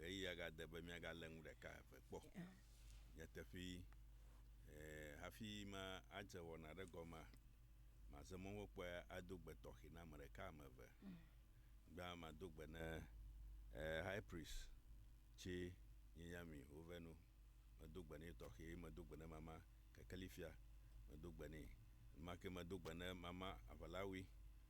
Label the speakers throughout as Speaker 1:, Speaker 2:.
Speaker 1: Ɣeyiɣia gade be míagalé nu ɖeka eve kpɔ. Nyateƒee, hafi madze wɔna aɖe gɔmea, maze mɔ hekpɔe ado gbe tɔxɛ na ame ɖeka, ame eve. Gbea mado gbe ne High Priest tsɛ nye Yami Ovenu. Medo gbe nɛ tɔxɛ. Medo gbe ne Mama Kekeli Fia. Medo gbe nɛ. Enumake medo gbe ne Mama Aʋalawi.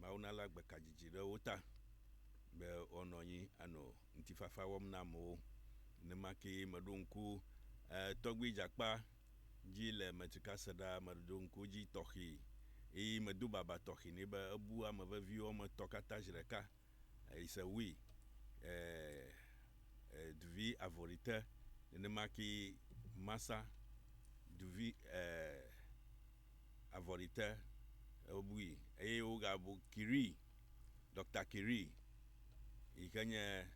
Speaker 1: Mawu nalé agbekadzidzi ɖe wo ta be woanɔ anyi anɔ ŋutifafa wɔm na amewo. Nenema kee meɖo ŋku Tɔgbui Dzakpa dzi le Metrika se ɖaa. Meɖo ŋku edzi tɔxɛe eye medo baba tɔxɛ nɛ be ebu ame veviwo woame etɔ̃ katã zi ɖeka. It's a we eh eh duvi avɔrite nenema ke masa duvi eh avɔrite wobui eye wogabu Kiri Doctor Kiri yike nye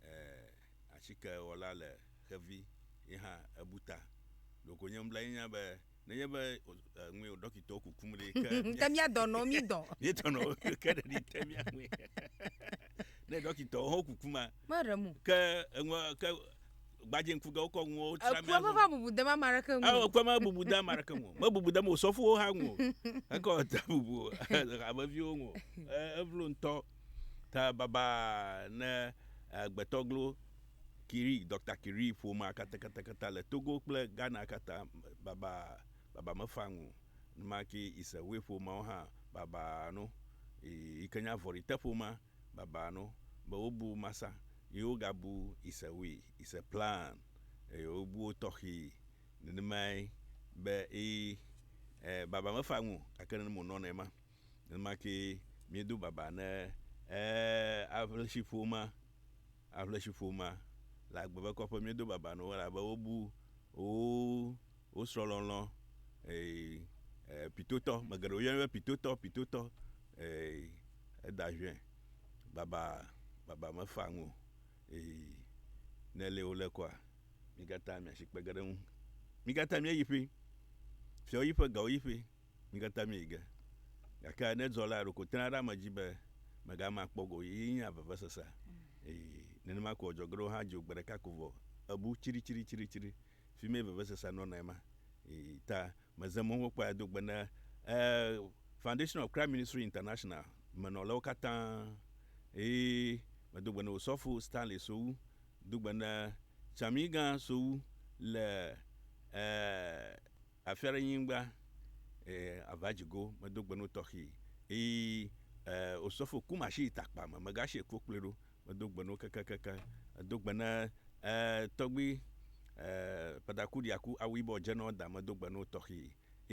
Speaker 1: eh atikewɔla le xevi yehã ebu ta ɖeko nye nublanui nya be Nenye be ŋue o ɖɔkitɔwo kukum ɖe ke. Ke mía dɔ nɔ
Speaker 2: mí dɔ. Mí dɔ nɔ ke
Speaker 1: ɖe ɖi te mía ŋue. Ne ɖɔkitɔwo ho kuku ma. Me ɖe mu. Ke
Speaker 2: eŋua
Speaker 1: ke gbadze ŋku ɖe wokɔ ŋuwo tra mía ŋu. Ekua me va bubu de ma
Speaker 2: ma ɖeke ŋu. Ekua me bubu de ma
Speaker 1: ɖeke ŋu. Me bubu de mo sɔfuwo hã ŋu. Ekɔ ta bubu hameviwo ŋu. Evlo ŋutɔ ta baba ne agbetɔ glo. Curie, Doctor Curie ƒomea katatakata le Togo kple Ghana katã baba baba mefaa ŋu numa ki ise woe ƒomeawo hã baba no yi ke nya vɔri te ƒomea baba no be wo bu masa yi wo ga bu ise woe ise plan eye wo bu wo tɔxi nenemae be eye e baba mefaa ŋu gake nene mo nɔnɛ ma nenema ki mi do baba ne e a ƒe ƒomea aʋletsiƒomea le agbe be kɔƒe míedo baba nɔ wo elabe wobu wo srɔ̃lɔlɔ pitotɔ, ame geɖe wo yɔnɛ be pitotɔ pitotɔ eda ʋɛ baba baba me fa ŋu ne li wole kɔa mí katã mía si kpe ge ɖe eŋu. Mí katã mía yi ƒe, fiawo yi ƒe, gawo yi ƒe. Mí katã míeyi ge. Gake ne dzɔlaa ɖeko tena ɖe ame dzi be megama akpɔ go o, ye nye avevesesea. Eye nenema koe wòdzɔ. Geɖewo hã dzo gbe ɖeka ko vɔ bu tsritsitsitsitsiɖi. Fi mee vevesesea nɔna ema. Eye ta meze mɔ be mekpɔe ado gbe ne Foundation of Christ Ministry International me nɔlawo katã. Eye medo gbe ne Osɔfo Stanley Sowu. Medo gbe ne Tsamiigã Sowu le Afia ɖe nyigba, e, ava dzi go, medo gbe no tɔxii, ii, e, osɔfo kum ashi takpa me, megashi kpo kplɔe ɖo, medo gbe no kekekekeŋ, edo gbe ne, e, tɔgbi, e, pataku ɖia ku, awu yibɔ dze nɔ da, medo gbe no tɔxii,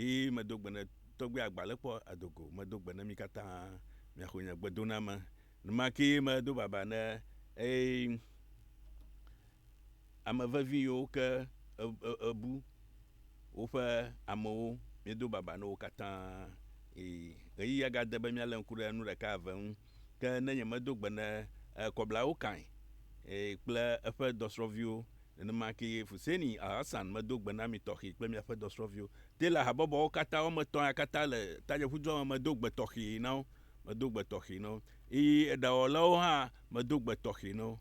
Speaker 1: ii, medo gbe ne tɔgbi agba le kpɔ ado go, medo gbe ne mi katã mia xo nye gbe doname, numa kee medo baba ne, ii. Ame vevi yiwo ke èbu woƒe amewo, míedo babaa na wo katã. Ii, ɣeyiɣia gade be míalé ŋku ɖe nu ɖeka eve ŋu. Ke ne nyemedo gbe ne Kɔblawo Kain kple eƒe dɔsrɔ̃viwo, nenema kee Fuseni Alhassan medo gbe na mi tɔxee kple miaƒe dɔsrɔ̃viwo. Taylor habɔbɔwo katã, woame etɔ̃ ya katã le tanyeƒudua me, medo gbe tɔxee na wo. Medo gbe tɔxee na wo. Ii, eɖawɔlawo hã, medo gbe tɔxee na wo.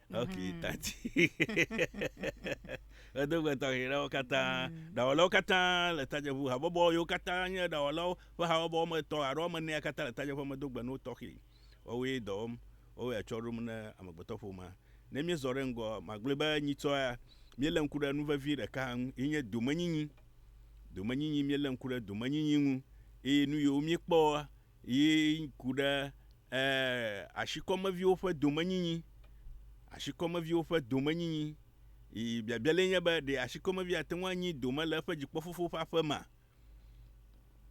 Speaker 1: Ok, mhm. tati. Edogbe tɔxɛ ɖewo katã. Mhm. Ɖawɔlawo katã le tadzeƒu. Habɔbɔ yiwo katã nye ɖawɔlawo ƒe habɔbɔ wɔme etɔ̃ alo wɔme enea katã le tadzeƒua me do gbe no tɔxɛ. Woawoe dɔ wɔm. Woawoe atsɔ ɖom ne amegbetɔƒomea. Ne míezɔ ɖe ŋgɔ, magblɔe be nyitsɔ ya, míelé ŋku ɖe nu vevi ɖeka ŋu, yi nye domenyinyi. Domenyinyi, míelé ŋku ɖe domenyinyi ŋu. Eye nu yiwo míekpɔ yi ku ɖe Ẽ, ashikɔmeviwo ƒe domenyinyi. Ashikɔmeviwo ƒe domenyinyi. Y, biabia lae nye be, ɖe ashikɔmevi ate ŋu anyi dome le eƒe dzikpɔfofo ƒe aƒe mea?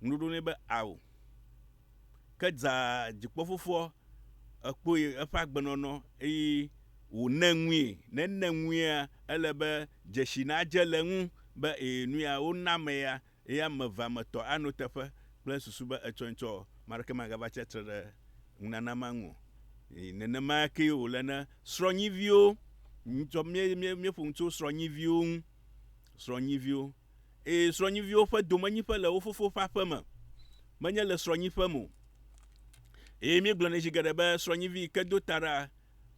Speaker 1: Ŋuɖoɖo nɛ be, Ao. Ke dza dzikpɔfofoa, ekpɔe, eƒe agbenɔnɔ, eye wòne ŋui. Ne ene ŋuia, ele be dzesi nadze le eŋu be, ẽ, nuya wona ame ya, Eye ame evea me tɔ ano teƒe kple susu be etsɔe tsɔ maɖeke magava tsi atre ɖe ŋunana ma ŋu o. Eye nenema kee wòle ne srɔ̃nyiviwo, tsɔ mí, mí, míeƒo nu tso srɔ̃nyiviwo ŋu, srɔ̃nyiviwo. Eye srɔ̃nyiviwo ƒe domenyiƒe le wo fofo ƒe aƒe me, menye le srɔ̃nyiƒe me o. Eye míegblɔ nɛ zi geɖe be srɔ̃nyivi yi ke do ta ɖa,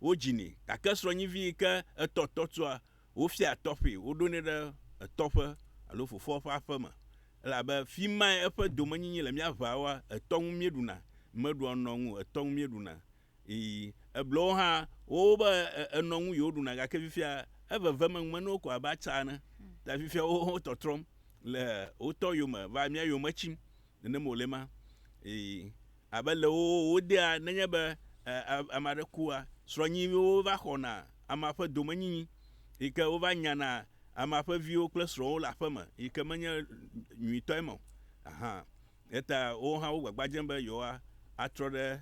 Speaker 1: wodzinɛ. Gake srɔ̃nyivi yi ke etɔ tɔtua, Wofiaa tɔƒee, woɖonɛ ɖe etɔ ƒe alo fofoa ƒe aƒe me, elabe fi mae eƒe domenyinyi le mía ʋaoa, etɔ ŋu míeɖuna, meɖua nɔ ŋu o, etɔ ŋu míeɖuna. Ii, eblewo hã, wowo be enɔ ŋu yewoɖuna, gake fifia eveve me ŋumenuwo ko abe atsa ene, ta fifia wowo hã wotɔtrɔm le wotɔ yome va mía yome tsim, Nenem wòle ema. Eye abe le wo wodea nenye be ame aɖe kua, srɔ̃nyiwo va xɔna amea ƒe domenyinyi yi ke wova nyana amea ƒe viwo kple srɔ̃wo le aƒe me yi ke menye nyuitɔ eme o hã. Eya ta wowo hã wo gbagba dzem be yewoa atrɔ ɖe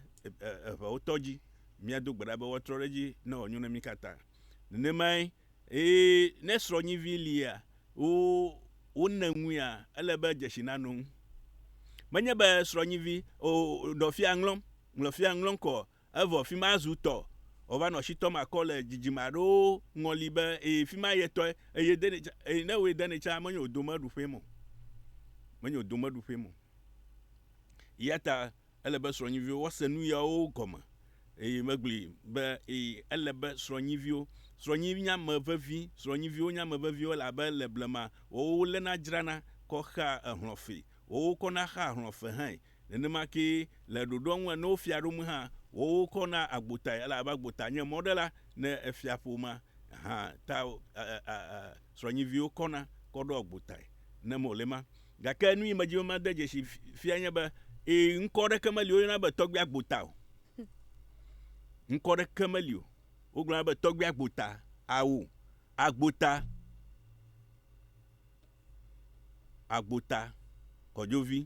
Speaker 1: eŋewotɔ dzi. Míado gbe ɖa be woatrɔ ɖe edzi ne wòanyo na mí katã. Nenemae Eye ne srɔ̃nyivi lia, wo, wonè ŋuia, ele be dzesi nanɔ ŋu. Menye be srɔ̃nyivi, o, nɔ fia ŋlɔm, ŋlɔ fia ŋlɔm kɔ, evɔ fima zu tɔ, o, va nɔ si tɔm akɔ le dzidzime aɖewo ŋɔli be, e, fima ye tɔe, eye denɛ tsa, e, ne woe denɛ tsa, menye wò domeɖuƒee me o. Menye wò domeɖuƒee me o. Eyata. Ele be srɔ̃nyiviwo woase nuyawo gɔme, eye megblɔe be, Ee, ele be srɔ̃nyiviwo. Srɔ̃nyi nye ame vevi. Srɔ̃nyiviwo nye ame veviwo le abe le blema wɔwɔ woléna dzrana kɔ xea ehlɔ̃ fee, wɔwɔ kɔna xea hlɔ̃ fe hãe. Nenema kee le ɖoɖoa ŋu ne wofia ɖom hã, wɔwɔ kɔna agbotae elabe agbota nye mɔɖela ne efia ƒomea hã ta srɔ̃nyiviwo kɔna kɔ ɖoa agbotae ne mɔlema. Gake nu yi medi be made dzesi fiae nye be, ẽ, ŋkɔ aɖeke meli woyɔna be Tɔgbui Agbota o. Ŋkɔ aɖeke meli o. Wogblɔna be Tɔgbui Agbota, ao, Agbota, Agbota, Kɔdzovi,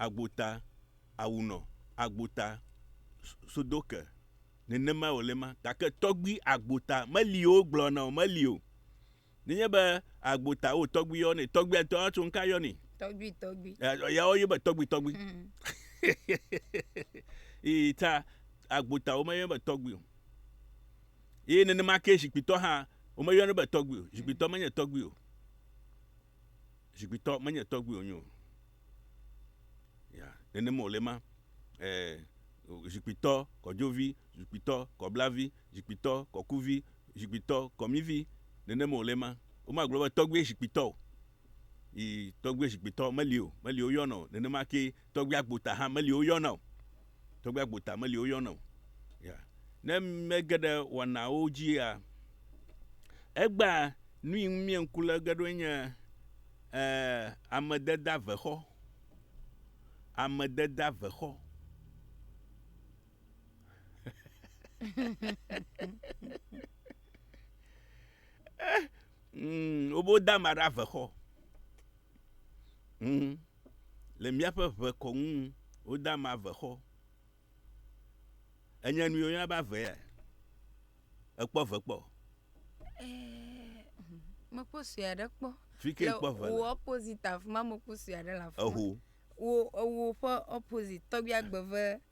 Speaker 1: Agbota, Awunɔ, Agbota, Sodoke, nenemae wòle ma. Gake Tɔgbui Agbota meli o, wogblɔna o, meli o. Nenye be agbo ta wo tɔgbi yɔ ne tɔgbi ŋutɔ ya tso ŋka yɔ ne. Tɔgbi
Speaker 2: tɔgbi. Ya wo yɔ be
Speaker 1: tɔgbi tɔgbi. Hmm. Yi ta agbo ta wo me yɔ be tɔgbi o. Yi nenema ke zikpitɔ hã wo me yɔ ne be tɔgbi o. Zikpitɔ menye tɔgbi o. Zikpitɔ menye tɔgbi o nyo. Ya nenema wo le ma. Eh, zikpitɔ kɔdzovi, zikpitɔ kɔblavi. Zikpuitɔ kɔkuvi, zikpuitɔ kɔmivi, nenema wòle ema. Womagblɔ be tɔgbui zikpuitɔ o. Yi tɔgbui zikpuitɔ meli o, meli woyɔna o. Nenema ke tɔgbui agbota hã meli woyɔna o. Tɔgbui agbota meli woyɔna o. Ya. Ne mege ɖe wɔnawo dzia, egbea nui ŋu mie ŋku le ge ɖo nye e, amededeavexɔ. Amededeavexɔ. Mm, wobo da ma ɖe avexɔ mm, le míaƒe ʋe kɔ ŋu woda ma avexɔ enye nu yɔna be avea ekpɔ ve kpɔ eh,
Speaker 2: mekpɔ sue aɖe kpɔ fike kpɔ ve le
Speaker 1: opposite afima
Speaker 2: mekpɔ sue aɖe le afima eho
Speaker 1: ewo ƒe
Speaker 2: opposite tɔgbia gbeve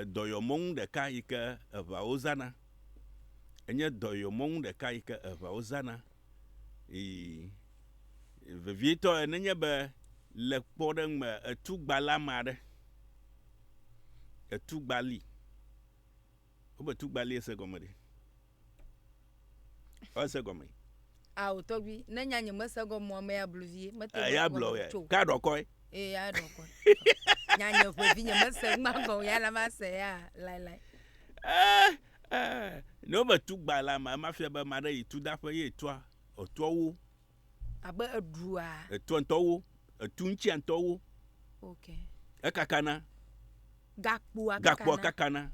Speaker 1: Edɔyɔmɔnu ɖeka yi ke eŋawo zãna. Enye dɔyɔmɔnu ɖeka yi ke eŋawo zãna. Ii, Vevietɔe, nenye be le kpɔɖeŋu me etu gba le ame aɖe, etu gba li. Wobe tu gba li ese gɔme ɖe? ese gɔme. ao tɔgbi
Speaker 2: ne nya nye mese gɔmɔ me ya blu vie mete eh, ya blɔ ya ka
Speaker 1: ɖɔ kɔe ee ya ɖɔ
Speaker 2: kɔe nya nye ƒe vi nye mese ma gɔ ya la ma se ya lai lai
Speaker 1: eh eh ne me tu gba la ma ma fia be ma ɖe yi tu da ƒe ye tua otua wo abe
Speaker 2: edua etua ntɔ wo
Speaker 1: etu ŋtsi ntɔ wo okay
Speaker 2: ekakana
Speaker 1: gakpoa kakana gakpoa kakana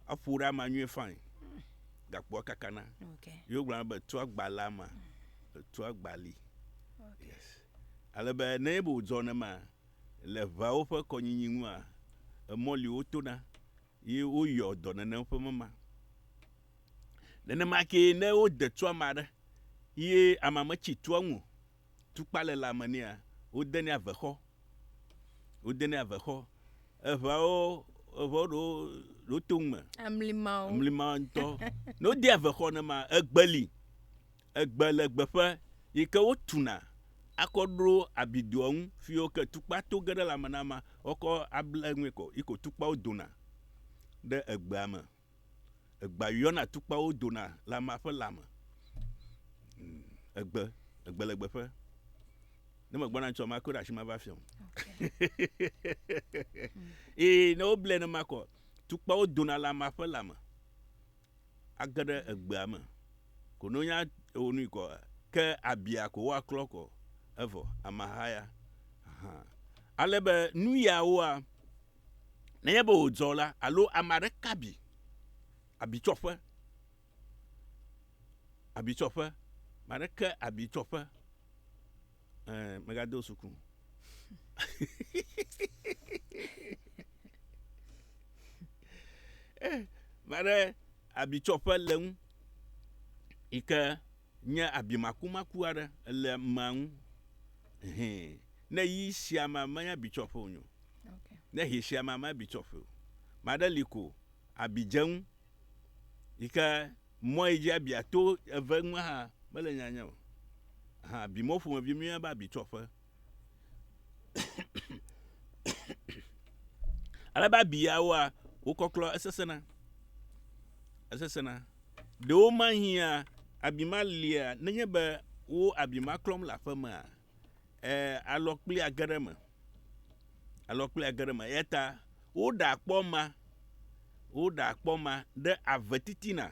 Speaker 1: Eƒo ɖe ama nyuie fain. Gakpoa kakana. Okay. Yo gblɔna be
Speaker 2: tua
Speaker 1: gbale ama. Mm. Tua gbali. Okay. Yes. Ale be ne ebe wodzɔ ne ma le ʋeawo ƒe kɔnyinyi ŋua emɔli wotona ye woyɔ dɔ nenem ƒe mema. Nenema ke ne wode tua ma ɖe ye ama metsi tua ŋu tukpalelãme nɛa, wodenɛ avexɔ, wodenɛ avexɔ. Eŋeawo, eŋewo ɖewo, ɖewo to ŋu me. Amlimawo. Amlimawo ŋutɔ. ne wodea avexɔ nema, egbe li, egbe le gbeƒe yi ke wotuna akɔ ɖo abidoa ŋu fi yi ke tukpa to ge ɖe lãme na amea, woakɔ able eŋue kɔ yi ke wò tukpawo dona ɖe egbea me. Egbea yɔna tukpawo dona le amea ƒe lãme. Mm, egbe, egbe le gbeƒe. Ne megbɔna ŋutsu ma koe ɖe asi ma va fiam. Ee, ne woblɛ ne makɔ, tukpawo dona le amea ƒe lãme. Age ɖe egbea me. Ko ne wonya wo nui kɔ, ke abia ko woaklɔ kɔ. Evɔ, ameha ya. Ale be nu yawoa, Nenye be wòdzɔ la, alo ame aɖe ka abi, abitsɔƒe, abitsɔƒe, ame aɖe ke abitsɔƒe, ɛɛ, megado suku. Eh, ame aɖe abitsɔƒe le ŋu yi ke nye abimakumaku aɖe le amea ŋu. Hɛn, ne yi sia mea, menye abitsɔƒe wònye o. Ne hɛ sia me ame bi tsɔƒe o. Ame aɖe li ko abi dze eŋu yi ke mɔ yi dzi abia to eve ŋu hã mele nyanya o. Hã abi mɔ ƒomevi míeyɔna be abi tsɔƒe. Ale be abi yawoa wokɔklɔ esesẽna. Esesẽna. Ɖewo mahiã abi ma lia nenye be wo abi ma klɔm le aƒemea. eh, alɔ kpli age ɖe eme. Alɔ kpli age ɖe eme. Eya ta woɖe akpɔ ma, woɖe akpɔ ma ɖe ave titina.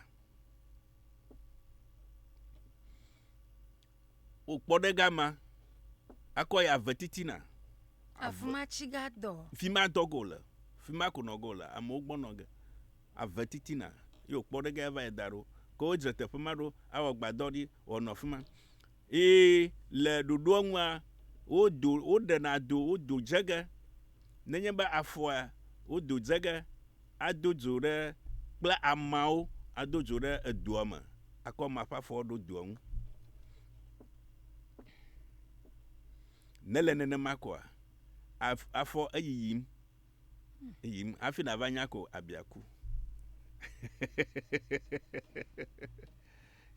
Speaker 1: Wokpɔ ɖe gama, akɔ ya ave titina. Afima
Speaker 2: tsi ga dɔ. Fima dɔ go le,
Speaker 1: fima ko nɔ go le, amewo gbɔ nɔ ge. ave titina, ye wòkpɔ ɖe ge ava yi da ɖo. Ke wodzra teƒe ma ɖo awɔ agbadɔ ɖi wòanɔ afi ma. Eye le ɖoɖoa nua, wodo, woɖena do, wodo dze ge. Nenye be afɔa, wodo dze ge ado dzo ɖe kple ameawo ado dzo ɖe edua me akɔ amea ƒe afɔ aɖo dua ŋu. Nele nenema koa? Af, afɔ eyiyim. yim hafi nàva nya ko abia ku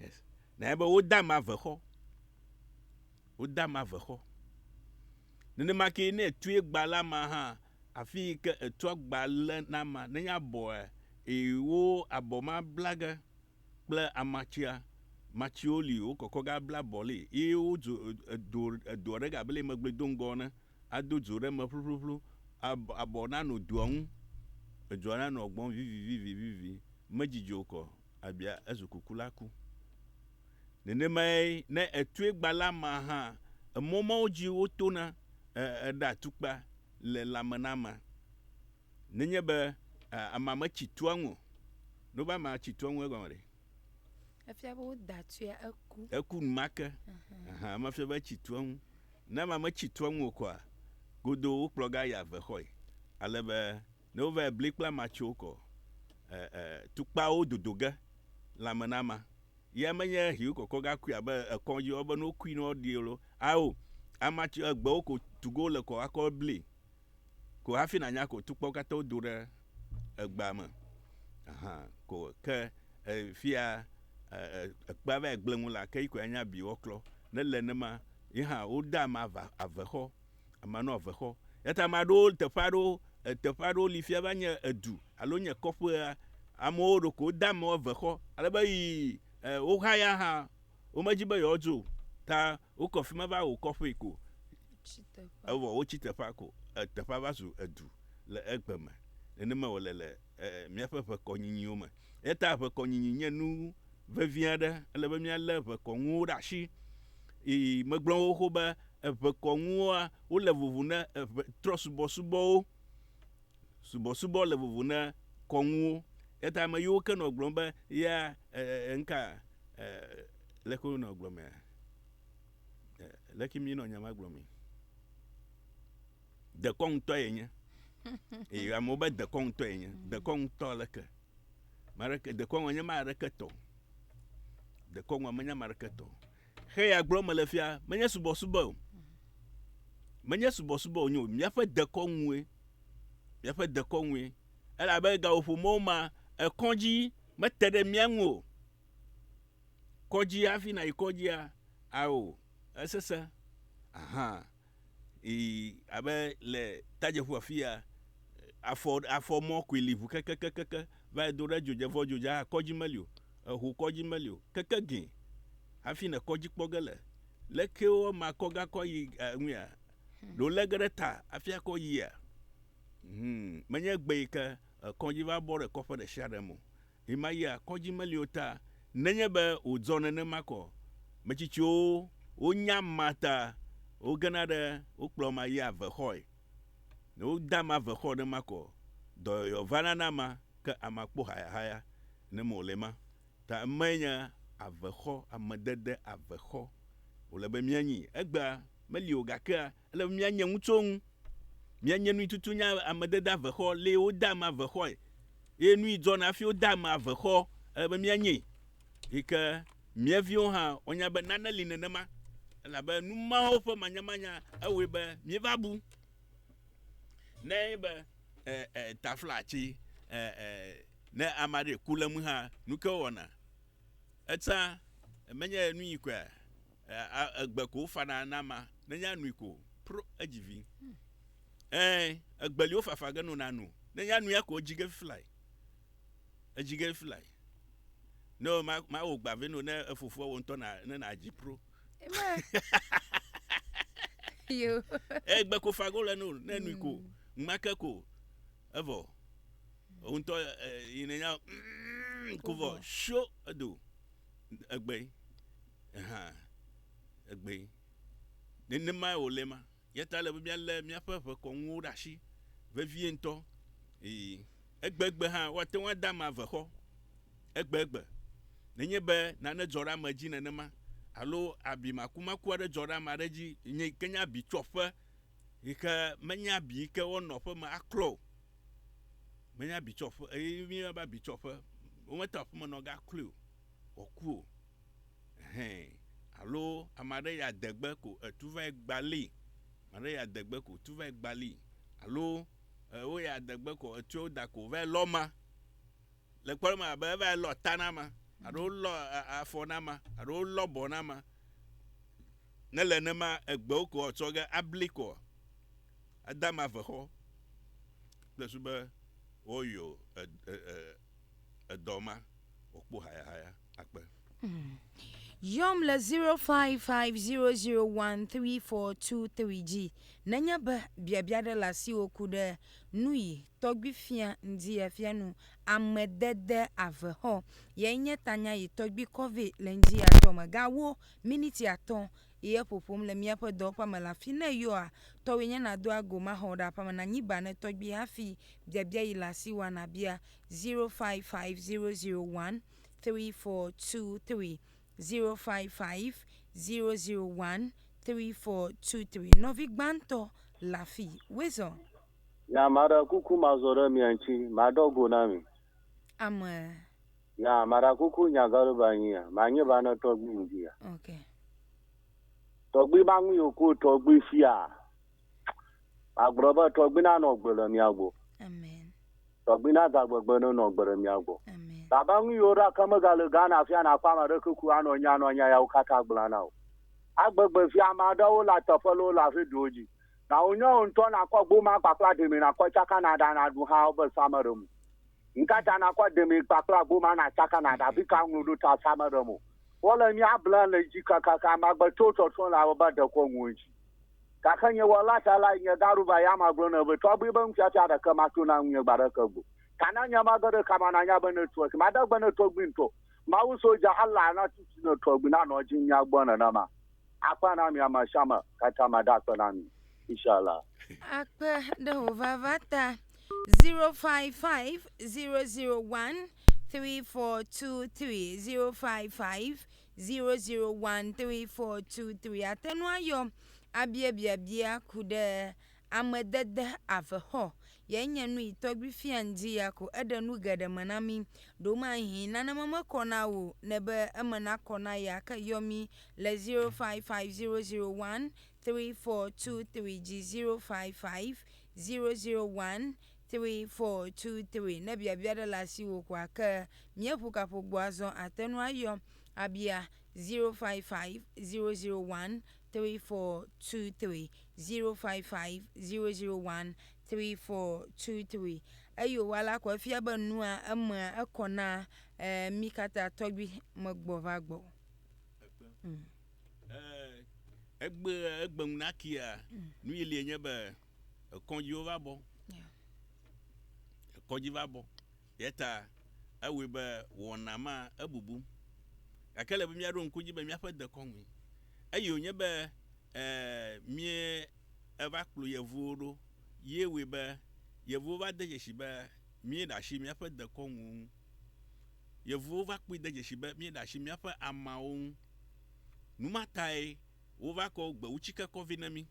Speaker 1: yes na be wode ame ave xɔ wode ame ave xɔ nenema ke ne etue gba la ma hã afi yi ke etua gba le na ma nenye abɔa eye wo abɔ ma bla ge kple amatsia matsiwo li wokɔkɔ ge abla abɔ li ye wodzo edo edo aɖe abe le megblɔe do ŋgɔ ene ado dzo ɖe eme ƒluƒluƒlu, ab, abɔ nanɔ dua ŋu, edzoa nanɔ gbɔm vivivivivivi, medzidzɔ o kɔ, abia ezu kuku la ku. Nenemae ne ètue gbã la ma hã, emɔ mawo dzi wotona, e, eɖe atukpa le lãme na amea. Nenye be, e, amea metsi tua ŋu o. Nova amea tsi tua ŋu egɔme ɖe? Efia
Speaker 2: be woda tsoe eku. Eku numake.
Speaker 1: Aha, eme fia be etsi tu eŋu. Ne ame metsi tu eŋu o koa, godoo wokplɔ ga yi ave xɔe. Ale be ne wova yi bli kple amea tso kɔ e, e, tukpawo dodo ge lãme na amea. Ya menye hiu kɔkɔ ga kui abe ekɔdzi wobe ne wokui ne woɖi lo, ao, amea tso egbewo ko tu ge wole kɔ akɔ bli. ko hafi nànya ko tukpawo katã wodo ɖe egbea me hã ko. Ke fia ekpea va yi gblẽ ŋu la, ke yi koe anya bi woaklɔ. Ne le nenema, ye hã wode ame ava avexɔ, ame anɔ avexɔ. Eya ta ame aɖewo, teƒe aɖewo, teƒe aɖewo li fia va nye edu alo nye kɔƒea, amewo ɖeko wode amewo avexɔ ale be yi wohaya hã, womedi be yewoadzo o ta Wokɔ fi ma va wɔ kɔƒee ko, evɔ wotsi teƒea ko, teƒea va zu edu le egbe me. Nenemae wòle le míaƒe ʋekɔnyinyiwo me. Eya ta ʋekɔnyinyi nye nu vevi aɖe. Ele be míalé ʋekɔnuwo ɖe asi. Eye megblɔ xoxo be ʋekɔnuwoa, wole vovo ne trɔ̃subɔsubɔwo. Subɔsubɔ le vovo ne kɔnuwo. Eya ta ame yiwo ke nɔ gblɔm be, Ya ŋka leke wonɔ gblɔmea? Leke mi nɔ nya ma gblɔ mi? Dekɔ ŋutɔ ye nye. Eye amewo be dekɔ ŋutɔ ye nye. Dekɔ ŋutɔ leke? Mareke dekɔ ŋutɔ nye mareke tɔ. Dekɔ ŋutɔ menye mareke tɔ. Xe ya gblɔ mele fia menye subɔsubɔ o. Menye subɔsubɔ o nyo. Míaƒe dekɔ ŋue. Míaƒe dekɔ ŋue. Elabe gaƒoƒo mɔwo ma ekɔdzi mete ɖe mía ŋu o. kɔdzi hafi nàyi kɔdzia? Ao, esesẽ. Aha, ii, abe le tadzeƒu afia, afɔ, afɔ mɔ koe li ʋu kekekekeke va yi do ɖe dzodze, vɔ dzodze hã kɔdzi meli o. Eho kɔdzi meli o. Keke gĩ hafi nèkpɔ edzi kpɔ ge le. Leke wo ame akɔ ge akɔ ayi eŋuia? Ɖo lé ge ɖe ta hafi akɔ yia? Hum, menye egbe yi ke kɔdzi va bɔ ɖe kɔƒe ɖe sia ɖe me o. Ɣemaɣia kɔdzi meli o ta nenye be wòdzɔ nenema ko. Metsitsiwo wonya ma ta wogena ɖe wokplɔ ma yia avexɔe. Ne wode ame avexɔ ɖe ma ko, dɔyɔyɔ vana na amea ke amea kpɔ hayahaya ne me wòle ma ta emae nye avexɔ, amedede avexɔ wòle be míanyi. Egbea meli o gakea Ele be mianye ŋu tso ŋu. Mianye nui tutu nye ame dede ave xɔ le wo de ame ave xɔe. Ye nui dzɔ na fi wo de ame ave xɔ. Ele be mianye yi ke mia viwo hã wo nya be nane li nenema. Ela be nu mawo ƒe manyamanya ewɔe be mi va bu ne ye be e, e, tafla tsi e, e, ne ame aɖe ku le mu hã nuke wɔna. Etsa menye nu yi koe. Aa egbe ko wofana na ama nenye anui ko pro edzi vi. Ee egbe li wofafa ge nona nu nenye anuia ko edzi ge fifilai. Edzi ge fifilai. No ma ma wo gba ve no ne efofoa wo ntɔ na ne na dzi pro.
Speaker 2: Yo. Egbe ko
Speaker 1: fa go le no ne nui ko ngmake hmm. ko evɔ. Wo ntɔ yinenya mm, ko vɔ sho edo egbe. hã egbee. Nenemae wòle ema. Eya ta ele be míalé míaƒe ʋekɔnuwo ɖe asi vevie ŋutɔ. Ii, egbegbe hã, woate ŋu ade ame ave xɔ egbegbe. Nenye be nane dzɔ ɖe ame dzi nenema alo abi makumaku aɖe dzɔ ɖe ame aɖe dzi yi ke nye abitsoƒe yi ke menye abi yi ke woanɔ aƒe me aklɔ o, menye abitsoƒe, eye míeyɔna be abitsoƒe, womete ŋu aƒemenɔ agaklɔe o, wòaku o. hɛɛ alo ame aɖe ya de gbe ko etu vae gba lii, ame aɖe ya de gbe ko tu vae gba lii alo e wo ya de gbe ko etue woda ko vae lɔ ma le kpɔɖeŋu me abe evae lɔ ta na ma alo wolɔ e afɔ na ma alo wolɔ abɔ na ma. Ne le nenema egbewo ko etsɔ ge abli koa eda ma vexɔ kple susu be woyɔ e e e. edɔ ma wòkpɔ hayahaya akpe. Hmm.
Speaker 2: Yɔm le 0550013423 dzi nenye be biabia ɖe le asiwò ku ɖe nuyi tɔgbi fia ŋdi efia nu amedede avexɔ yɛ nye tanya yi tɔgbi kɔvi le ŋdi atɔ me ga wo miniti atɔ Ye ƒoƒom le míaƒe dɔwɔƒea me le afi ne yɔa tɔwòe nye nàdoa go maxɔ ɖe aƒea me nànyi ba ne tɔgbui hafi biabia yi le asi wòa nàbia 0550013423 0550013423 nɔvi gbãtɔ le afi wezɔ. Ya maɖe
Speaker 3: kuku mazɔ ɖe mia ŋuti maɖɔ go na mi. Ame. Ya mara kuku nya garo ba nyi ya ma nye ba na tɔgbi ngi ya. Ok. Tɔgbi ba ngi yo ko tɔgbi fia. Agbrɔ ba tɔgbi na
Speaker 2: no
Speaker 3: gbele mia go. Amen. Tɔgbi na za gbegbe no no gbele mia go. Amen. Baba ngi yo
Speaker 2: ra kama
Speaker 3: ga le gana fia na kwa ma re kuku ano nya no nya ya ukata gbla na o. Agbegbe fia ma da wo la teƒe lo la fe do ji. Na wo nyo ntɔ na kwa gbo ma kpakla demi na kwa chaka na da na du ha o be sa ma re mu. Nu ka ta nàkɔ demee kpakple agbo ma nàtsaka na ɖavi ka ŋlɔ ɖo ta sa meɖem o? Wole mía blem le dzi kakaka magbeto tsɔtsrɔ̃ le abe be dekɔ ŋu edzi. Gake nye Wɔla ta lae nye gaɖo va ya magblɔ nɛ be tɔgbi be nufiafia ɖeke mato na ŋunye gba ɖeke gbo. Ta na nye mage ɖe kama nanya be ne tua si made gbe ne tɔgbi ŋutɔ, Mawu soja Allah natu si ne tɔgbi nanɔ dzi mía gbɔ nenema. Akpe na mi amesiame katã ma ɖe akpe na mi. Inshallah. Akpe
Speaker 2: ɖe wò vava ta. 0550013423 0550013423 ate ŋu ayɔ abiabiabia ku ɖe amedede avexɔ Ye nye nu yi tɔgbi fia ŋdi ya ko eɖe nu geɖe me na mi. Ɖomahĩ nane me mekɔ na wò ne be eme nakɔ na ya ke yɔ mi le 0550013423 dzi 0550013423 ne biabia ɖe le asi wò ko ake mieƒu kaƒo gbɔ azɔ ate nu ayɔ abia 0550013423. zero five five zero zero one three four two three eyo wa la kɔ efia be nua emea ekɔ na e mi kata tɔgbi megbɔ va gbɔ.
Speaker 1: Ekpe. Mm. E, egbe egbe ŋu na kia mm. nu yi lie nye be ekɔdziwo va bɔ. Yeah. Ekɔdzi va bɔ. Eya ta ewɔe be wɔna ma ebubu. Gake ele be míaɖo ŋku edzi be míaƒe dekɔnue eye wònye be e míeva kplɔ yevuwo ɖo ye wɔe be yevuwo va de dzesi be míeɖe asi míaƒe dekɔnuwo ŋu. Yevuwo va kpɔe de dzesi be míeɖe asi míaƒe ameawo ŋu. Nu ma tae wova kɔ gbewutsike kɔ vɛ na mí.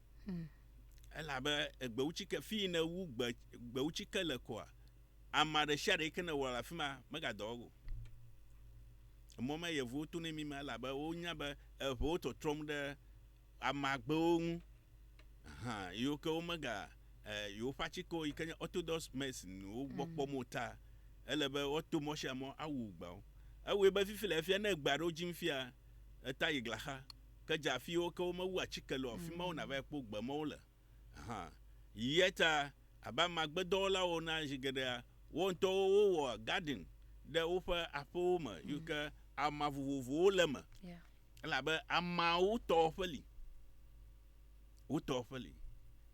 Speaker 1: Elabe gbewutsike, fii ne wu gbe, gbewutsike le koa, Ama ɖe sia ɖe yike nèwɔ le afi ma megadɔ eŋu o. Emɔ ma yevuwo tonɛ mí ma elabe wonya be eŋewo tɔtrɔm ɖe amagbewo ŋu hã yiwo ke womega e yewoƒe atsikewo yike nye Orthodox medicine wo gbɔ kpɔm o ta ele be woato mɔ sia mɔ awu gbeawo. Ewɔe be fifi le efia ne gbe aɖewo dzim fia eta yi glaxa ke dze afi yiwo ke womewu atsike le o afi mawo nàvae kpɔ gbe mɔ wole. hã. Eya ta abe amagbedɔwɔlawo ene zi geɖea, wo ŋutɔwo wowɔa gadin ɖe woƒe aƒewo me yi ke ama vovovowo le eme elabe amawo tɔ ƒe li. Wotɔ ƒe li.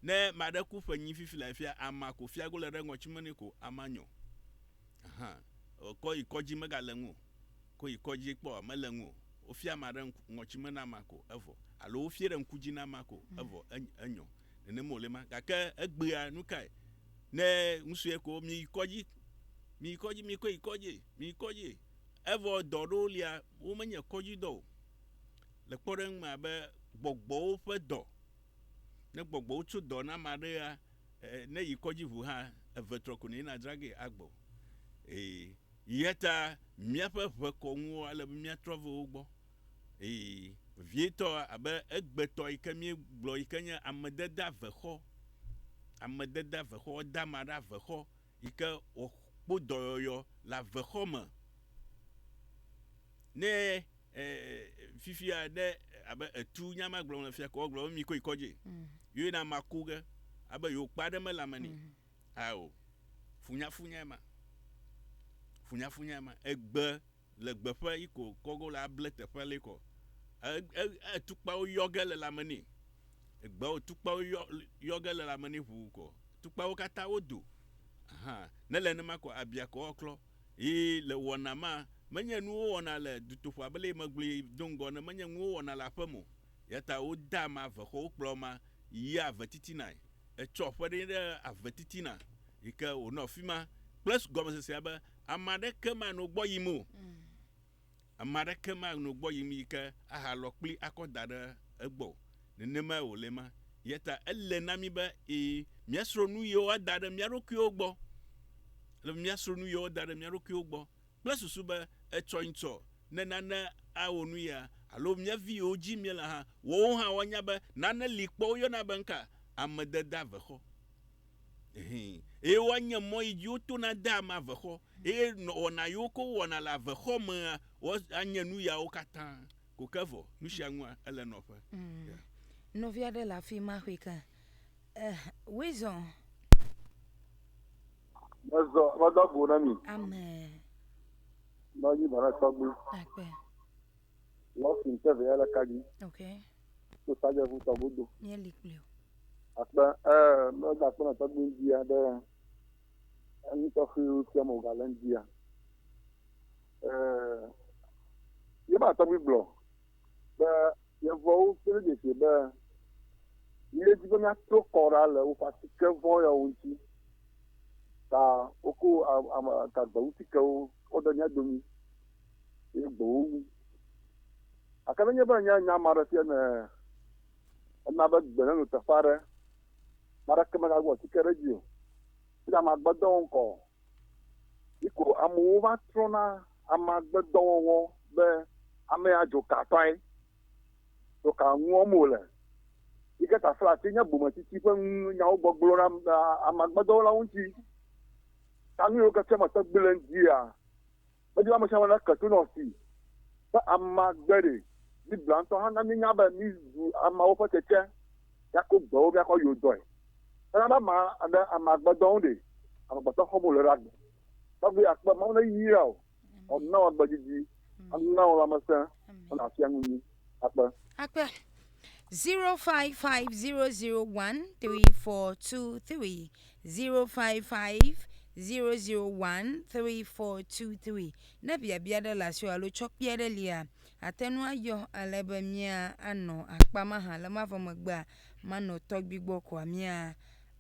Speaker 1: Ne ame aɖe ku ƒenyi fifi le afia, ama ko fiago le ɖe ŋɔtime nɛ ko ama nyɔ. Hã. O, kɔ yi kɔdzi megale ŋu o. Kɔ yi kɔdzi kpɔ, mele ŋu o. Wofia ame aɖe ŋku, ŋɔtsime na amea ko, evɔ. Alo wofie ɖe ŋku dzi na amea ko, evɔ. Enyo, enyo. Nenem wòle ma. Gake egbea, nukae? Ne ŋusue ko, miyi kɔdzi. Miyi kɔdzi, mikɔe yi kɔdzi. Miyi kɔdzi. Evɔ dɔ aɖewo lia, womenye kɔdzidɔ o. Le kpɔɖeŋu me abe gbɔgbɔwo ƒe dɔ. Ne gbɔgbɔwo tso dɔ na ame aɖea, Ne yi kɔdzi ʋu hã eve trɔ ko ne yina dzra ge agbɔ ee yeta miaƒe ʋe kɔ ŋuwo ale be mia trɔ ve wo gbɔ ee vietɔ abe egbe tɔ yi ke mie gblɔ yi ke nye ame deda ve xɔ ame deda ve xɔ dama ɖa ve xɔ yi ke wòkpɔ dɔyɔyɔ le avexɔ me ne e, fifia ne abe etu nya ma gblɔm le fia ko gblɔ mi koe kɔdzi mm. yoe na ma ku ge abe yewo kpa ɖe mele ame ni mm. ao funyafunya ma funyafunya ma egbe le gbe ƒe yi ko kɔgo le able teƒe le kɔ e tukpawo yɔge le lame ni egbe o tukpawo yɔ yɔge le lame ni ʋu kɔ tukpawo kata wo do aha ne le ne ma kɔ abia kɔ klɔ yi le wɔna ma menye nuwo wɔna le dutoƒa bele megblui dongɔ ne menye nuwo wɔna le aƒe mo yata wo da ma ve xɔ wo kplɔ ma yi ave titina etsɔ ƒe ɖe ɖe ave titina yi ke wonɔ fima kple gɔmesesea be Ame aɖeke manɔ gbɔ yim o. Ame aɖeke manɔ gbɔ yim yi ke ahalɔ kpli akɔ da ɖe egbɔ o. Nenemae wòle ema. Eya ta ele na mí be ẽ míasrɔ̃ nu yiwo woada ɖe mía ɖokuiwo gbɔ. Ele be míasrɔ̃ nu yiwo woda ɖe mía ɖokuiwo gbɔ kple susu be etsɔnyĩ tsɔ ne nane awɔ nu ya alo mía vi yiwo dzi míele hã, woawo hã woanya be nane li kpɔ woyɔna be nuka? Ame dedeavexɔ. Eye woanye mɔ yi dzi wotona dea ame avexɔ, eye wɔna yiwo ke wowɔna le avexɔ mea, woanye nu yawo katã ko ke vɔ. Nu sia nua, ele nɔƒe. Ya. Nɔvi
Speaker 2: aɖe le afi ma xɔe ke. Eh, Wilson.
Speaker 3: Mezɔ, medo agu na mi. Amen. Nɔ anyi bana tɔgbi. Akpe. Lɔsi ŋutɔ vɛ le ka dzi. Ok.
Speaker 2: To sadze ŋu
Speaker 3: tɔ godo. Nye li kple o.
Speaker 2: Akpe
Speaker 3: ɛ mɛda kpe nɔ tɔgbi ŋdi ya ɖe enu tɔxi tia mo ga le ŋdi ya. Ɛ ye ba tɔgbi gblɔ be yevuawo ƒe dzesi be ye dzi be mia to kɔ ɖa le woƒe atike vɔ ya ŋuti. Ta woko agba ŋutikewo kɔ ɖe mia domi. ye gbe wo wu. Gake nenye be ènya nya ma ɖe fia ne ena be gbe neno teƒe aɖe, ame aɖeke megagblɔ atike ɖe edzi o, eye ame agbedɔ ŋkɔ o. Yi ko amewo va trɔna ame agbedɔwɔwɔ be ame ya dzoka tɔe, dzoka nu wɔm wòle. Yi ke ta fla afi nye bometsitsi ƒe nyawo gbɔgblɔ ɖe ame agbedɔwɔlawo ŋuti. Ta nu yiwo ke fia mete gbe le ŋutia, Medi be ame sia ame nake to nɔ si ƒe amea gbe ɖi. Biblia ŋutɔ hã na míenya be mízu ameawo ƒe tsetse, míako gbe wo, míakɔ yewo dɔe. Hena be ame aɖe ame agbe dɔ ŋu ɖe, amegbetɔ xɔm wòle ɖe agbe. Tɔgbi akpe, Mawu neyra wò, wòana wò agbe didi, ana wò lãmesẽ, wòana wò afia nu nyui. Akpe. Akpe. 0550013423 0550013423
Speaker 2: ne biabia ɖe le asiwò alo tsɔ kpia ɖe lia ate ŋu ayɔ ale be mía anɔ akpa ma hã le mavɔ megbea manɔ tɔgbi gbɔ koa mía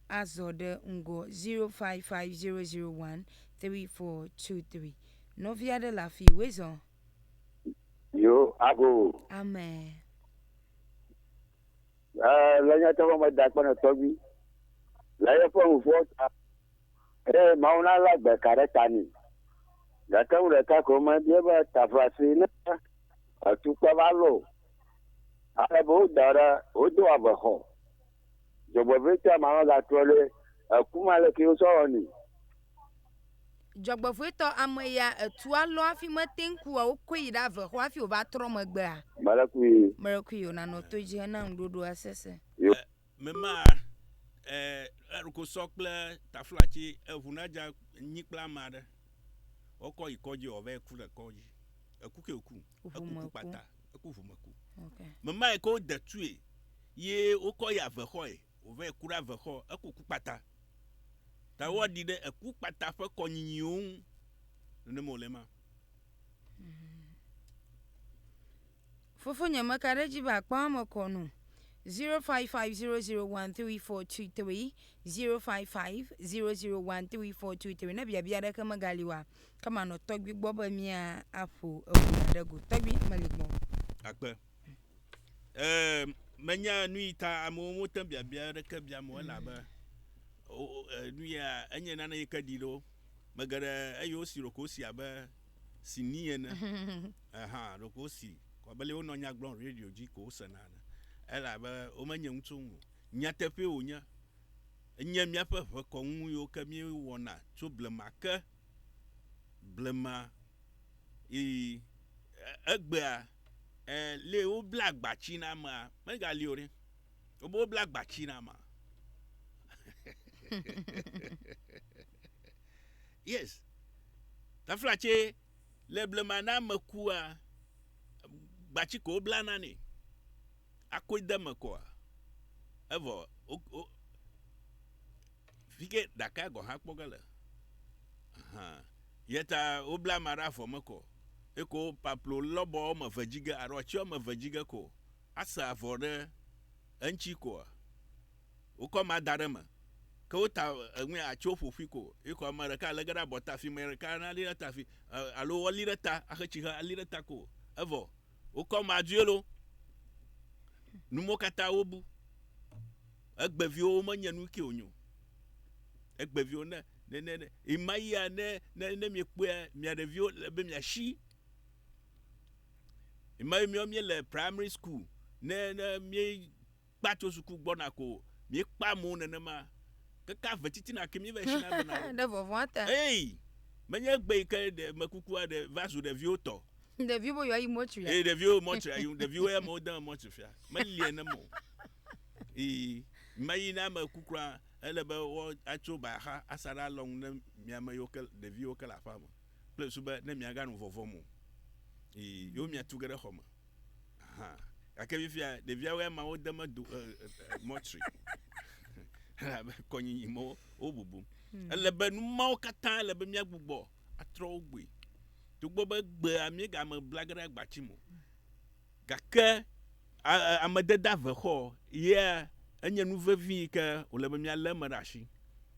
Speaker 2: azɔ ɖe ŋgɔ 0550013423 nɔvia ɖe le afi wezɔ
Speaker 4: Yo, abo.
Speaker 2: Amen.
Speaker 4: Eh, le nyateƒe me da kpɔnɔ tɔgbi. Le eƒe ŋuƒoa ta. Eye Mawu na la gbe ka ɖe ta nɛ. Gake ŋu ɖeka ko mebie be taƒlasi ne etukpe va lɔ o. Ale be woda ɖe wodo avexɔ. Dzɔgbevɔ̃etɔa ma magatrɔ ɖe eku me aleke wosɔ wɔ nɛ.
Speaker 2: Dzɔgbevɔ̃etɔ ameya etua lɔ hafi mete ŋu kua wokɔe yi ɖave xɔ hafi wòva trɔ megbea? Melekui. Melekui o, nanɔ to edzi hena ŋuɖoɖoa sese. Yo. Mema
Speaker 1: e eɖoko sɔ kple tafla tsi eŋu na dza nyi kple ame aɖe. Wokɔ yi kɔdzi wòva yi ku le kɔdzi. Eku ke wòku. Eku ku kpata. Eku ʋumeku. Okay. Memae
Speaker 2: ke wode
Speaker 1: tue ye wokɔ yi avexɔe wòvae ku ɖe avexɔ. Eku ku kpata. Ta mm. woaɖi ɖe eku kpata ƒe kɔnyinyiwo ŋu. Nenema wòle ma. Mm.
Speaker 2: Fofonye meka ɖe edzi be akpa eme kɔ no. 0550013423 0550013423 ne biabia aɖeke megali oa Ke manɔ tɔgbui gbɔ be mía aƒo eŋu ɖe go. Tɔgbui meli gbɔ. Akpe.
Speaker 1: Ee, menya nu yi ta amewo wote biabia ɖeke biam o elabe nu ya enye nane yi ke ɖi ɖo. Mege ɖe eye wosi ɖoko si abe si ni ene. Aha, ɖoko si kɔbeli wonɔ nya gblɔm radio dzi ko wosena ne. Elabe womenye ŋutsu ŋu. Nyateƒe wonye. Enye míaƒe ʋekɔnu yiwo ke míewɔna tso blema ke. blema ɣeyiɣi egbea e lé wobla agbatsi na amea megali o ɖe. Wobe wobla agbatsi na amea. yes. Tafla tse le blema na ame kua gbatsi ko wobla na nɛ. Akoe de eme koa evɔ Fike ɖakae gɔ̃ hã kpɔ ge le. Aha. Yeta wobla ama ɖe avɔ me kɔ. Eko paplo lɔbɔ wɔme ve dzi ge alo atsi wɔme ve dzi ge ko asa avɔ ɖe eŋtsi koa? Wokɔ ama da ɖe eme. Ke wota eŋui atsi wo ƒoƒui ko. Ye ko ame ɖeka lege ɖe abɔta afi, ame ɖeka nali ɖe ta afi alo woali ɖe ta axe tsi xe ali ɖe ta ko. Evɔ. Wokɔ madue lo. Numo katã wobu. Egbeviwo womenye nu ke wonyo. Egbeviwo ne ne ne ne imayia ne ne ne miekpɔe mia ɖeviwo le be miasi. Imayi miawo mie le primary school ne ne mie Kpa tso suku gbɔna ko miekpa mo nenema keke ave titina ke mieva eshina be na wo. Ɖe vɔvɔa ta. Ey! Menye egbe yi ke ɖe mekuku aɖe va zu ɖeviwo tɔ. Ɖeviwo be yewoayi
Speaker 2: mɔtri a? Ey ɖeviwo mɔtri ayi
Speaker 1: ɖeviwo ya me wodeme mɔtri fia meliɛ ne mo. Ey mayi ne ame ku kura ele be wo atso ba axa asa ɖe alɔnu ne miame yiwo ke ɖeviwo ke le aƒea me kple susu be ne miaga nu vɔvɔ mo. Ey yewo miatu ge ɖe xɔme. Hã. Gake fifia ɖeviawo ya ma wode medo mɔtri elabe kɔnyinyi mɔ wobubum. Hmm. Ele be nu mawo katã ele be míagbugbɔ atrɔ wo gbɔe. Togbɔ be gbea míegame blage ɖe agbati mo. Gake amedede ave xɔ ye enye nu vevi yi ke wòle be míalé eme ɖe asi.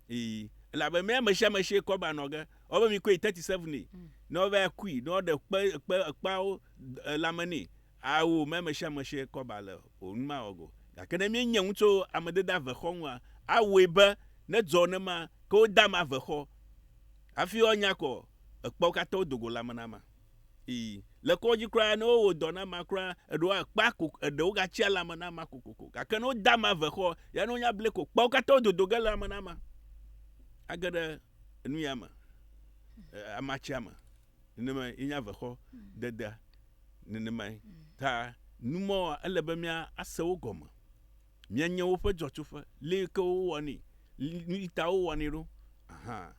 Speaker 1: Ee, elabe mía ame sia ame si kɔ ba nɔ ge, ɔbe mi koe thirty seven ne ɔbe akui ne ɔɖe kpe kpe ekpeawo Ɖe lãme nɛ. Ao, me ame sia ame si kɔ ba le o nu mawɔ go. Gake ne míenye ŋu tso ame dede avexɔ ŋua, awɔe be nedzɔ ne ma ke wode ame avexɔ hafi woanya kɔ ekpeawo katã wodo go lãme na ame. Ii, Le kɔdzi kura, ne wowɔ dɔ na amea kura, eɖewo akpa ko, eɖe wogatsia lãme na amea kokoko. Gake ne wode ame avexɔ ya ne wonya blee ko kpeawo katã wododo ge lãme na amea. Age ɖe enu ya me, e, amatsia me. nenemae ye nye avexɔ dedea nenemae ta nu mɔ ele be mía ase wo gɔme mía nye woƒe dzɔtsoƒe li ke wo wɔni nu yi ta wo wɔni ɖo aha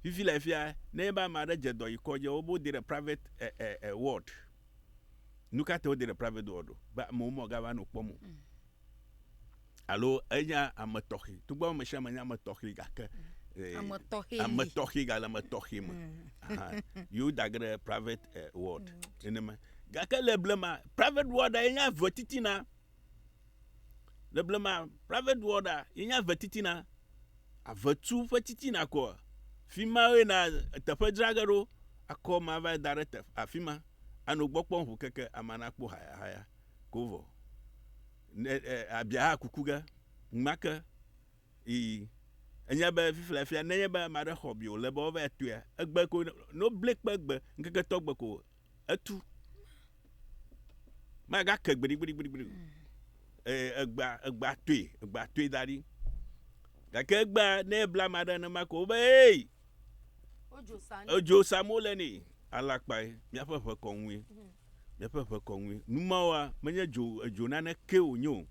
Speaker 1: fifi le fia ne be ame aɖe dze dɔ yi kɔdzi wo bo de ɖe private e e e ward nu ka te wo de ɖe private ward be amewo mɔ ga va no kpɔm o. Alo enye ame tɔxɛ. Togbɔ ame sia ame nye ame tɔxɛ gake eh, ame tɔxɛ ame tɔxɛ gale ame tɔxɛ me. Mm. Yewo da ge ɖe private eh, ward mm. nenema. Gake le blema private ward enye ave titina. Le blema private ward enye ave titina. Ave tu ƒe titina koa. Fi ma ye na teƒe dzra ge ɖo akɔ ma va da ɖe teƒe afima. Ano gbɔ kpɔ ŋu keke amana kpɔ haya haya. ko vɔ. Ne e, abia kuku ge, ŋma ke. Ii. Enye be fifia fia nenye be ame aɖe xɔ bi wòle be woava tɔe, egbe ko ne wobli kpe egbe, ŋkeke tɔ gbe ko etu. Magake gbiɖigbiɖigbiɖi o. Ee, egbea, egbea toe, egbea toe da ɖi. Gake egbea ne ebla ame aɖe nenema ko wobe, ee, Ojo sa ne. edzo sam wole nɛ, alakpae, míaƒe ʋe kɔ ŋue. le eƒe ʋe kɔŋui. Nu mawoa, menye dzo, edzo nanekee wònye o.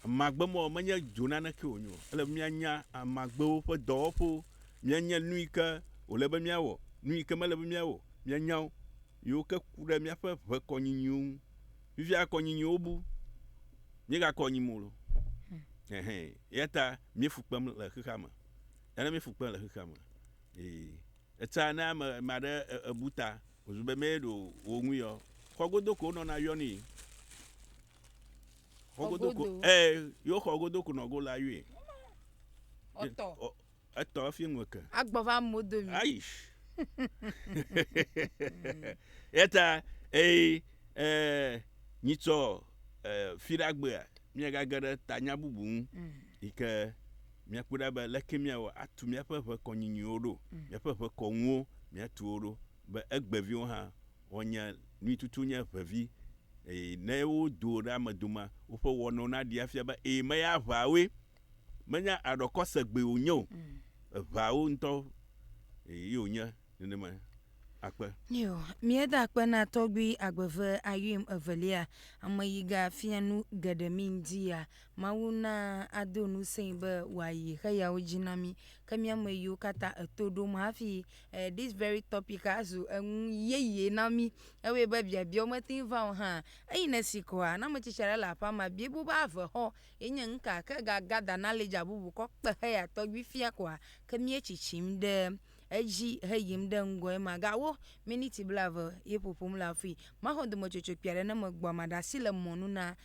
Speaker 1: Amagbe mawo menye dzo nanekee wònye o. Ele be míanya amagbewo ƒe dɔwɔƒewo, míanya nu yi ke wòle be míawɔ, nu yi ke mele be míawɔ o, míanya wo, yiwo ke ku ɖe míaƒe ʋe kɔnyinyiwo ŋu. Fifia kɔnyinyiwo bu, míegakɔ nyim o loo. Ɛhɛ, eya ta míefu kpem le xexea me. Eya ta míefu kpem le xexea me. Ee, etsã ne ame, ame aɖe e- ebu ta Wòzu be mee ɖo wò ŋui ɔ, xɔ godo ko wonɔna yɔnui. Xɔ godo ko, ɛ, yewo xɔ godo ko nɔgo la yɔe. Ɔtɔ. Ɔ, etɔ efi ŋu eke. Agbɔ va mo do mi.
Speaker 2: Ayi.
Speaker 1: Eta, eyi, ɛ, nyitsɔ, ɛ, fiɖagbea, miagage ɖe tanya bubu ŋu, yi ke. Míakpɔe ɖa be leke míawɔ atu míaƒe ʋekɔ nyuinyuiwo ɖo, míaƒe ʋekɔ ŋuwo míatu wo ɖo, be egbeviwo hã woanya nui tutu nye ʋevi, eye ne wodo wo ɖe ame domea, woƒe wɔnawo naɖee afia be ee, meye aʋawoe, menye aɖɔkɔ segbeewo wonye o, eʋawo ŋutɔ ye wonye nenema akpe. Nyo, míeda
Speaker 2: akpe na Tɔgbui Agbeve Ayuim Evelia, ameyiga fia nu geɖe mí ŋuti ya. Mawu na ado ŋusẽe be wòayi xeyawo dzi na mí. Ke mía me yiwo katã eto ɖom hafi eh this very topic azu enu yeye na mí. Ewɔe be biabiawo mete ŋu va o hã. Eyi ne si koa, ne ame tsitsi aɖe le aƒea mea, biae bu be ave xɔ ye nye nuka? Ke ga gather knowledge abubu kɔ kpe heya tɔgbi fia koa, ke mía tsitsim ɖe edzi heyim ɖe ŋgɔe ma. Ga wo miniti blaeve ye ƒoƒom le afui. Maxɔ dometsotso kpui aɖe ne megbɔa, maɖe asi le mɔnu na